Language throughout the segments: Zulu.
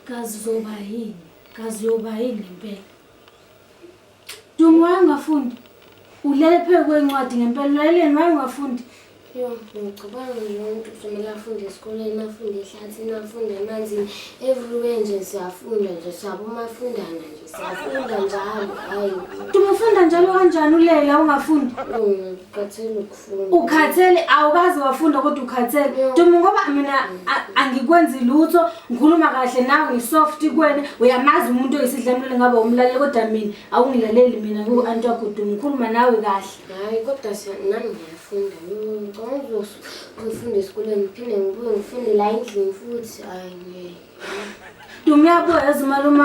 kazi uzoba yini kazi uyoba yini ngempela dumo wayengafundi ulele phezu kwencwadi ngempela ulaleleni wayengafundi Yho, ngicabanga nje umuntu kufanele afunde esikoleni, afunde ehlathini, afunde emanzini. Everywhere nje siyafunda nje, siyabo umafundana nje, siyafunda njalo, hhayi. Ufunda njalo kanjani ulela ungafundi? Ngikhathele ukufunda. Ukhathele, awukazi wafunda kodwa ukhathele. Duma ngoba mina angikwenzi lutho, ngikhuluma kahle nawe, ngisoft kuwena, uyamazi umuntu oyisidlamlilo ngabe umlaleli kodwa mina awungilaleli mina ngiwu-anti wakho Duma, ngikhuluma nawe kahle. Hayi kodwa nami ngiyafunda ngicabanga ukuzofunda esikoleni ngiphinde ngibuye ngifunde la endlini futhi hayi ngeke Dumi uyabuya yazi malume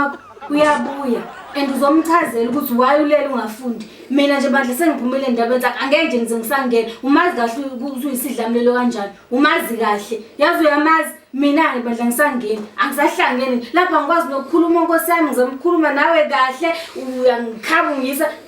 uyabuya and uzomchazela ukuthi why ulele ungafundi mina nje bandla sengiphumile endabeni zakhe angeke nje ngize ngisangena umazi kahle ukuthi uyisidlamlelo kanjani umazi kahle yazi uyamazi mina-ke bandla ngisangeni angisahlangeni lapha ngikwazi nokukhuluma nkosi yami ngizomkhuluma nawe kahle uyangikhaba ungisa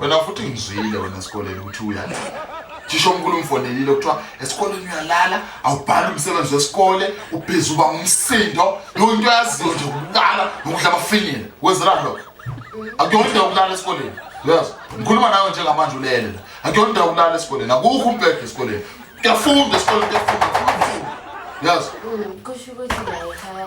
wena futhi ngizwile wena esikoleni ukuthi uyalala thisha omkhulu umfonelile kuthiwa esikoleni uyalala awubhali umsebenzi wesikole ubhizi uba ngumsindo yonke into yaziyo nje ukulala nokudla abafinyile wenzela lokho akuyona indawo yokulala esikoleni yes ngikhuluma nawe njengamanje ulele la akuyona indawo yokulala esikoleni akukho umbhede esikoleni kuyafunda esikoleni kuyafunda yes kusho ukuthi la ekhaya